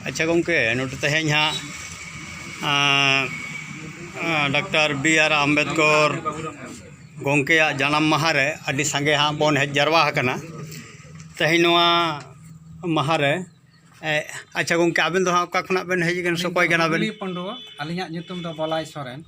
ᱟᱪᱪᱷᱟ ᱜᱚᱢᱠᱮ ᱱᱚᱰᱮ ᱛᱮᱦᱮᱧ ᱦᱟᱸᱜ ᱰᱟᱠᱛᱟᱨ ᱵᱤ ᱟᱨ ᱟᱢᱵᱮᱫᱽᱠᱚᱨ ᱜᱚᱢᱠᱮᱭᱟᱜ ᱡᱟᱱᱟᱢ ᱢᱟᱦᱟ ᱨᱮ ᱟᱹᱰᱤ ᱥᱟᱸᱜᱮ ᱦᱟᱸᱜ ᱵᱚᱱ ᱦᱮᱡ ᱡᱟᱨᱣᱟ ᱟᱠᱟᱱᱟ ᱛᱮᱦᱮᱧ ᱱᱚᱣᱟ ᱢᱟᱦᱟ ᱨᱮ ᱟᱪᱪᱷᱟ ᱜᱚᱢᱠᱮ ᱟᱵᱮᱱ ᱫᱚ ᱦᱟᱸᱜ ᱚᱠᱟ ᱠᱷᱚᱱᱟᱜ ᱵᱮᱱ ᱦᱮᱡ ᱟᱠᱟᱱᱟ ᱥᱮ ᱚᱠᱚᱭ ᱠᱟᱱᱟ ᱵᱮᱱ ᱟᱹᱞᱤᱧ ᱫᱚ ᱠᱩᱞᱤ ᱯᱟᱺᱰᱩᱣᱟᱹ ᱟᱹᱞᱤᱧᱟᱜ ᱧᱩᱛᱩᱢ ᱫᱚ ᱵᱚᱞᱟᱭ ᱥᱚᱨᱮᱱ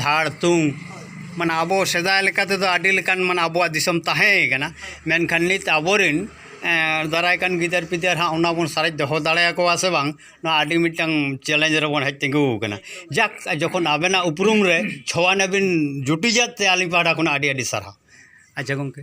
ᱫᱷᱟᱲ ᱛᱩᱝ ᱢᱟᱱᱮ ᱟᱵᱚ ᱥᱮᱫᱟᱭ ᱞᱮᱠᱟ ᱛᱮᱫᱚ ᱟᱹᱰᱤ ᱞᱮᱠᱟᱱ ᱢᱟᱱᱮ ᱟᱵᱚᱣᱟᱜ ᱫᱤᱥᱚᱢ ᱛᱟᱦᱮᱸ ᱠᱟᱱᱟ ᱢᱮᱱᱠᱷᱟᱱ ᱱᱤᱛ ᱟᱵᱚ ᱨᱮᱱ ᱫᱟᱨᱟᱭ ᱠᱟᱱ ᱜᱤᱫᱟᱹᱨ ᱯᱤᱫᱟᱹᱨ ᱦᱟᱸᱜ ᱚᱱᱟ ᱵᱚᱱ ᱥᱟᱨᱮᱡ ᱫᱚᱦᱚ ᱫᱟᱲᱮᱭᱟᱠᱚᱣᱟ ᱥᱮ ᱵᱟᱝ ᱱᱚᱣᱟ ᱟᱹᱰᱤ ᱢᱤᱫᱴᱟᱝ ᱪᱮᱞᱮᱧᱡᱽ ᱨᱮᱵᱚᱱ ᱦᱮᱡ ᱛᱤᱸᱜᱩ ᱟᱠᱟᱱᱟ ᱡᱟᱠ ᱡᱚᱠᱷᱚᱱ ᱟᱵᱮᱱᱟᱜ ᱩᱯᱨᱩᱢ ᱨᱮ ᱪᱷᱚ ᱟᱱᱟ ᱵᱤᱱ ᱡᱩᱴᱤᱡᱟᱜ ᱛᱮ ᱟᱹᱞᱤᱧ ᱯᱟᱦᱴᱟ ᱠᱷᱚᱱᱟᱜ ᱟᱹᱰᱤ ᱟᱹᱰᱤ ᱥᱟᱨᱦᱟᱣ ᱟᱪᱪᱷᱟ ᱜᱚᱢᱠᱮ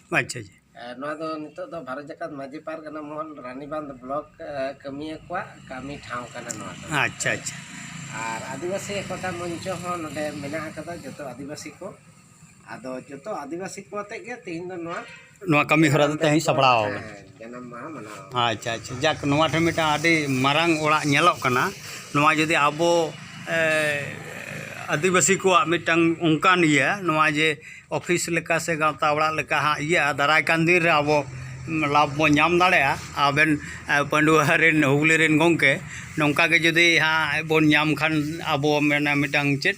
ᱟᱪᱪᱷᱟ ᱟᱪᱪᱷᱟ ᱱᱚᱣᱟ ᱫᱚ ᱱᱤᱛᱚᱜ ᱫᱚ ᱵᱷᱟᱨᱚᱛ ᱡᱟᱠᱟᱛ ᱢᱟᱹᱡᱷᱤ ᱯᱟᱨᱜᱟᱱᱟ ᱢᱚᱦᱚᱞ ᱨᱟᱱᱤᱵᱟᱸᱫᱽ ᱵᱞᱚᱠ ᱠᱟᱹᱢᱤᱭᱟᱹ ᱠᱚᱣᱟᱜ ᱠᱟᱹᱢᱤ ᱴᱷᱟᱶ ᱠᱟᱱᱟ ᱱᱚᱣᱟ ᱫᱚ ᱟᱪᱪᱷᱟ ᱟᱪᱪᱷᱟ ᱟᱨ ᱟᱹᱫᱤᱵᱟᱹᱥᱤ ᱮᱠᱚᱛᱟ ᱢᱚᱧᱪᱚ ᱦᱚᱸ ᱱᱚᱰᱮ ᱢᱮᱱᱟᱜ ᱟᱠᱟᱫᱟ ᱡᱚᱛᱚ ᱟᱹᱫᱤᱵᱟᱹᱥᱤ ᱠᱚ ᱟᱫᱚ ᱡᱚᱛᱚ ᱟᱹᱫᱤᱵᱟᱹᱥᱤ ᱠᱚ ᱟᱛᱮᱫ ᱜᱮ ᱛᱮᱦᱮᱧ ᱫᱚ ᱱᱚᱣᱟ ᱱᱚᱣᱟ ᱠᱟᱹᱢᱤ ᱦᱚᱨᱟ ᱫᱚ ᱛᱮᱦᱮᱧ ᱥᱟᱯᱲᱟᱣ ᱟᱠᱟᱱᱟ ᱡᱟᱱᱟᱢ ᱢᱟᱦᱟ ᱢᱟᱱᱟᱣᱟ ᱟᱪᱪᱷᱟ ᱟᱪᱪᱷᱟ ᱡᱟᱠ ᱱᱚᱣᱟ ᱴᱷᱮᱱ ᱢᱤᱫᱴᱟᱝ ᱟᱹᱰᱤ ᱢᱟᱨᱟᱝ ᱚᱲᱟᱜ ᱧᱮᱞᱚᱜ ᱠᱟᱱᱟ ᱱᱚᱣᱟ ᱡᱩᱫᱤ ᱟᱵᱚ ᱟᱹᱫᱤᱵᱟᱹᱥᱤ ᱠᱚᱣᱟᱜ ᱢᱤᱫᱴᱟᱝ ᱚᱱᱠᱟᱱ ᱤᱭᱟᱹ ᱱᱚᱣᱟ ᱡᱮ ᱚᱯᱷᱤᱥ ᱞᱮᱠᱟ ᱥᱮ ᱜᱟᱶᱛᱟ ᱚᱲᱟᱜ ᱞᱮᱠᱟ ᱦᱟᱸᱜ ᱤᱭᱟᱹᱜᱼᱟ ᱫᱟᱨᱟᱭ ᱠᱟᱱ ᱫᱤᱱ ᱨᱮ ᱟᱵᱚ ᱞᱟᱵᱷ ᱵᱚᱱ ᱧᱟᱢ ᱫᱟᱲᱮᱭᱟᱜᱼᱟ ᱟᱵᱮᱱ ᱯᱟᱺᱰᱩᱣᱟᱹ ᱨᱮᱱ ᱦᱩᱜᱽᱞᱤ ᱨᱮᱱ ᱜᱚᱢᱠᱮ ᱱᱚᱝᱠᱟ ᱜᱮ ᱡᱩᱫᱤ ᱦᱟᱸᱜ ᱵᱚᱱ ᱧᱟᱢ ᱠᱷᱟᱱ ᱟᱵᱚ ᱢᱟᱱᱮ ᱢᱤᱫᱴᱟᱝ ᱪᱮᱫ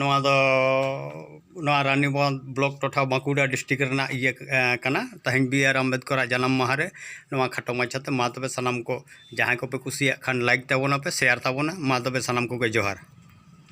ᱱᱚᱣᱟ ᱫᱚ ᱱᱚᱣᱟ ᱨᱟᱱᱤᱵᱟᱸᱫᱷ ᱵᱞᱚᱠ ᱴᱚᱴᱷᱟ ᱵᱟᱸᱠᱩᱲᱟ ᱰᱤᱥᱴᱤᱠ ᱨᱮᱱᱟᱜ ᱤᱭᱟᱹ ᱠᱟᱱᱟ ᱛᱮᱦᱮᱧ ᱵᱤ ᱟᱨ ᱟᱢᱵᱮᱫᱠᱚᱨ ᱟᱜ ᱡᱟᱱᱟᱢ ᱢᱟᱦᱟ ᱨᱮ ᱱᱚᱣᱟ ᱠᱷᱟᱴᱚ ᱢᱟᱪᱷᱟᱛᱮ ᱢᱟ ᱛᱚᱵᱮ ᱥᱟᱱᱟᱢ ᱠᱚ ᱡᱟᱦᱟᱸᱭ ᱠᱚᱯᱮ ᱠᱩᱥᱤᱭᱟᱜ ᱠᱷᱟᱱ ᱞᱟᱭᱤᱠ ᱛᱟᱵᱚᱱᱟᱯᱮ ᱥᱮᱭᱟᱨ ᱛᱟᱵᱚᱱᱟ ᱢᱟ ᱛᱚᱵᱮ ᱥᱟᱱᱟᱢ ᱠᱚᱜᱮ ᱡᱚᱦᱟᱨ